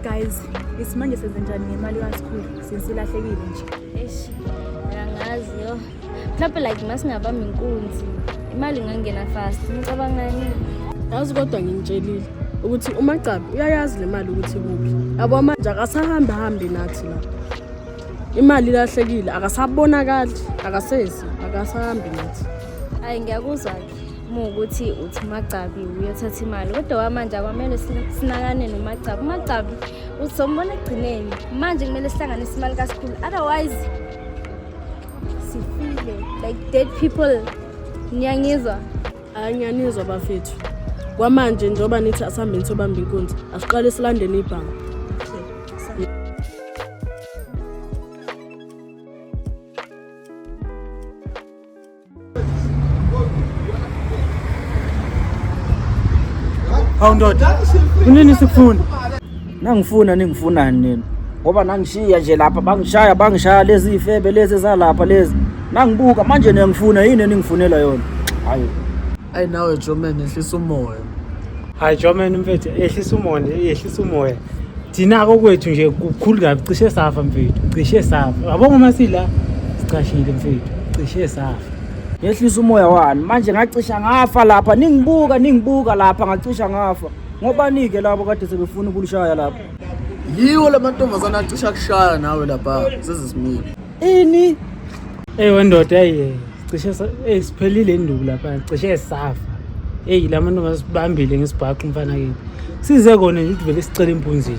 guys isimanje senze njani ngemali kaSikhulu since ilahlekile nje eish angazi yo mhlawumpe like masingabamba inkunzi imali ingangena fast nicabangani yazi kodwa ngimtshelile ukuthi umagcabi uyayazi le mali ukuthi kuphi yabo manje akasahambi hambi nathi la imali ilahlekile akasabonakali akasezi akasahambi nathi hayi ngiyakuzwa-ke muwukuthi uthi umagcabi uyothatha imali kodwa wamanje akwamele sinakane nomagcabi umagcabi uzombona ekugcineni manje kumele sihlanganise imali kasikhulu otherwise Sifile like dead people. Niyangizwa? Hayi ngiyanizwa bafethu. Kwamanje njengoba nithi asihambeni sobamba inkunzi, asiqale silandeni ibhanga. Hawu ndoda, unini sikufuna? Nangifuna ningifunani nini? Ngoba nangishiya nje lapha bangishaya bangishaya lezi ifebe lezi zalapha lezi. Nangibuka manje niyangifuna yini eningifunela yona? Hayi. ayi nawe joman ehlisa umoya hayi joman mfethu ehlisa umoya ehlisa umoya thina kokwethu nje kukhulu kabi cishe safa mfethu cishe safa yabo ngoma sila sicashile mfethu cishe safa yehlisa umoya wani manje ngacisha ngafa lapha ningibuka ningibuka lapha ngacisha ngafa ngobanike labo kade sebefuna ukulishaya lapha yiwo lamantombazana acisha kushaya nawe lapha sezisimile Ini? Hey wendoda hey cishe hey siphelile induku lapha cishe safa. Hey la mantombazane asibambile ngesibhaxu mfana kithi. Size kona nje ukuthi vele sicela impunzini.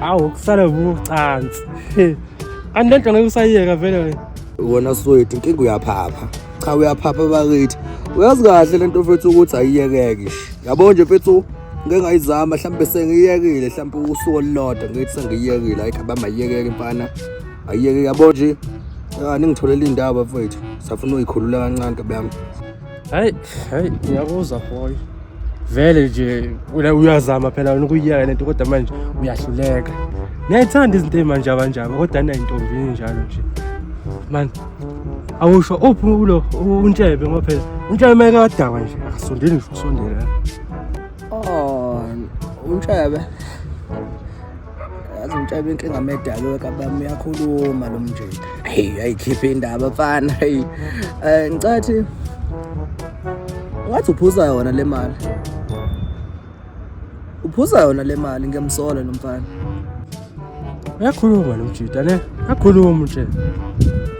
awu kusale vucansi kanti lento ngeke usayiyeka vele wena wona swethu inkinga uyaphapha cha uyaphapha bakithi uyazi kahle lento mfethu ukuthi ayiyekeki yabo nje mfethu ngeke ngayizama mhlawumbe sengiyekile mhlawumbe usuku olulodwa ngithi sengiyekile ayikho abamayiyekeke mfana ayiyeke yabo nje ningitholela indaba mfethu safuna uyikhulula kancane kabe yami Hey, hey, ngiyakuzwa boy. Vele nje wena uyazama phela wena ukuyiyeka lento kodwa manje uyahluleka. Ngiyayithanda izinto ezimanje abanjalo kodwa nayo intombi njalo nje. Man, awusho uphi ulo untshebe ngoba phela untshebe meke wadakwa nje akasondeli ngisho ukusondela. Oh, untshebe. yazi umtshaba inkinga medalo kabami uyakhuluma lo mjita heyi ayikhiphe indaba mfana heyi um ngicathi ungathi uphuza yona le mali uphuza yona le mali ngiyamsola lo mfana uyakhuluma lo mjita ne akhuluma nje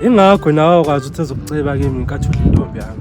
ingakho nawe wakwazi ukuthi ezokuceba kimi nkathi udla intombi yami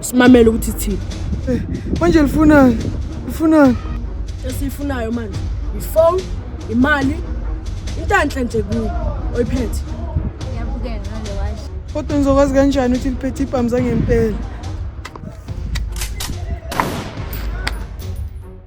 simamele ukuthi thini eh, manje lifunani lifunani esiyifunayo manje ifone imali intanhle nje kuyo oyiphethe ngiyabukela ngale washo kodwa ngizokwazi kanjani ukuthi liphethe ibhamu zangempela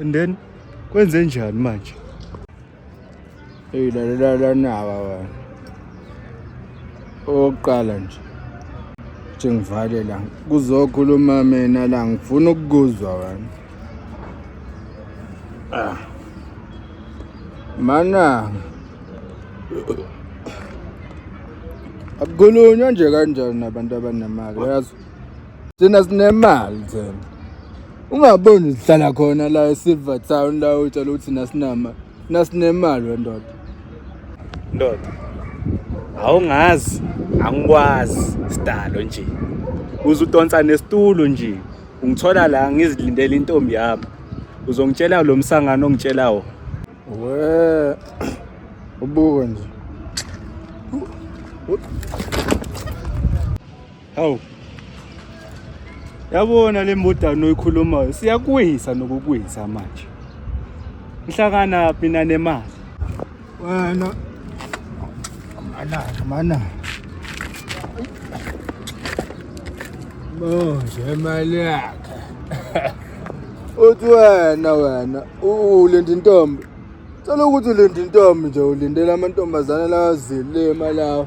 and then kwenze njani manje eyilalelalanaba bana okokuqala nje nje ngivale la kuzokhuluma mina la ngifuna ukukuzwa wena ah. mana akukhulunywa nje kanjani nabantu abanemali yazi thina sinemali thina ungaboni uzihlala khona la esilver town la utshela ukuthi thina sinama thina sinemali wendoda ndoda awungazi angikwazi sidalo nje uze udonsa nesitulo nje ungithola la ngizilindele intombi yami uzongitshela lo msangano ongitshela wona we ubuke nje Hawu. Yabona le mbodano oyikhulumayo siyakwisa nokukwisa manje. Nhlakana phi nanemali? Wena mana mana. Manje mali yakhe. Uthi wena wena ulenda intombi. Cela ukuthi ulenda intombi nje ulindele amantombazana lawa zilima lawa.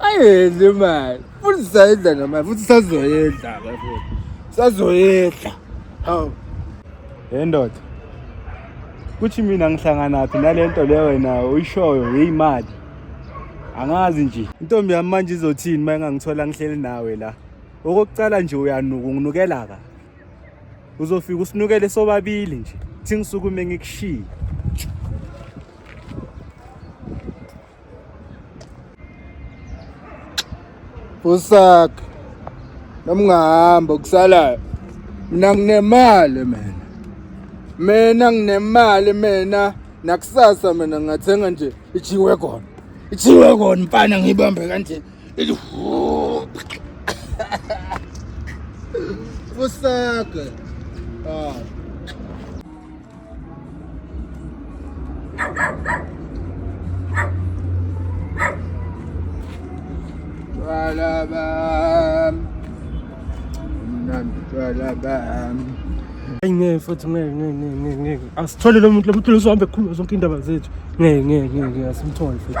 ayedla imali futhi sayidla nemali futhi sazoyedla ke futhi sazoyedla hawu hey ndoda kuthi mina ngihlanganaphi nale nto le wena uyishoyo yeyimali angazi nje intombi yami manje izothini uma engangithola ngihleli nawe la okokucala nje uyanuka unginukela ka uzofika usinukele sobabili nje thi ngisukume ngikushiye usaka noma ungahamba okusalayo mina nginemali mina mina nginemali mina nakusasa mina ngathenga nje ijiwe kona ijiwe kona mfana ngiyibambe kanje usaka ah Ayi ngeke futhi ngeke ngeke ngeke ngeke asithole lo muntu lo muntu lozohambe ekhuluma zonke indaba zethu ngeke ngeke ngeke asimthole futhi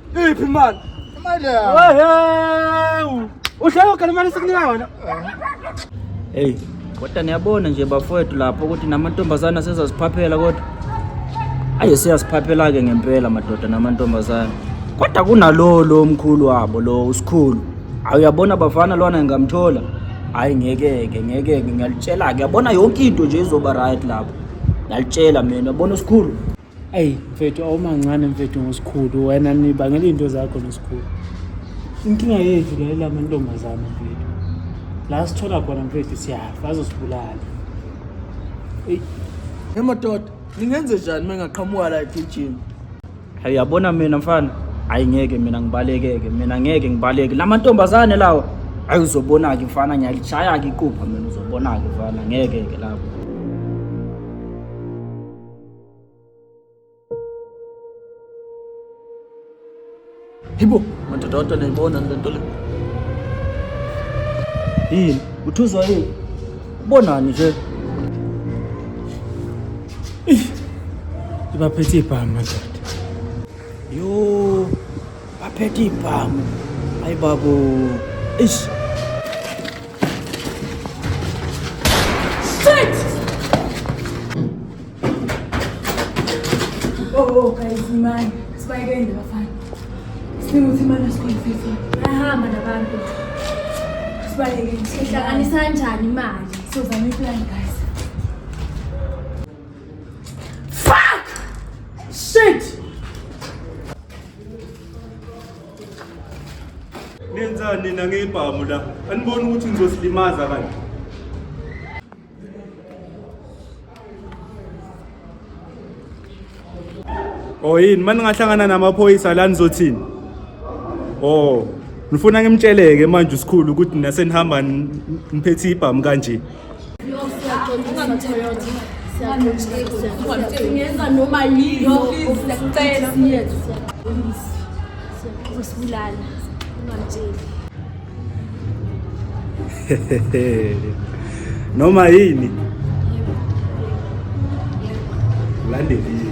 Iphi imali? Imali yami. Wehewu. Uhlelo kana imali sikunika wona. Hey, kodwa niyabona nje bafowethu lapho ukuthi namantombazane asezaziphaphela kodwa. Aye siyasiphaphela ke ngempela madoda namantombazane. Kodwa kunalo lo mkhulu wabo lo usikhulu. Awuyabona bafana lwana ngamthola. Hayi ngeke ke ngeke ngiyalitshela ke yabona yonke into nje izoba right lapho. Ngalitshela mina yabona usikhulu. eyi mfethu awumancane mfethu ngosikhulu wena nibangela iy'nto zakho nosikhulu inkinga yethu la ilamantombazane mfethu la sithola khona mfethu siyafa azosibulala eyi emadoda ningenze njani uma engaqhamuka la egijima hayi yabona mina mfana hayi ngeke mina ngibalekeke mina ngeke ngibaleke la mantombazane lawa hayi uzobona-ke mfana ngiyalishaya-ke iqupha mina uzobona-ke mfana ngeke-ke lapho Hibo, madoda watu wanaibona ndantole. Hii, utuzwa hii. Bona nje. Ibaphethe ibhamu madoda. Yo, baphethe ibhamu. Hayi babu. Ish. Oh, oh, guys, man. Sibayeke ndabafana. Sidinga ukuthi imali esikhona fifi. Ayahamba nabantu. Sibaleke. Sihlanganisa kanjani imali? Sizama iplan guys. Fuck! Shit! Nenzani nina ngebhamu la? Aniboni ukuthi ngizosilimaza kanje. Oh yini manje ngahlangana namaphoyisa la nizothini? Oh ngifuna ngimtsheleke manje usikhulu ukuthi nina senihamba niphethe ibhamu kanje. Ngenza noma yini siyacela siyethu siyabulala ungamtsheli noma yini ulandeliwe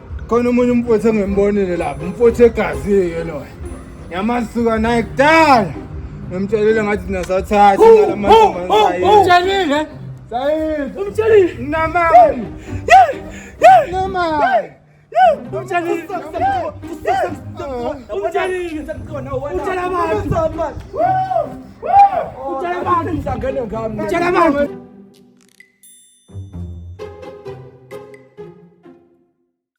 khona omunye umfowethu engimbonile lapho umfowethu egazi-ke loyo ngiyamasuka naye kudala ngimtshelile ngathi thina sathatha umtshelile umtshelile namani namani umtshelile umtshelile abantu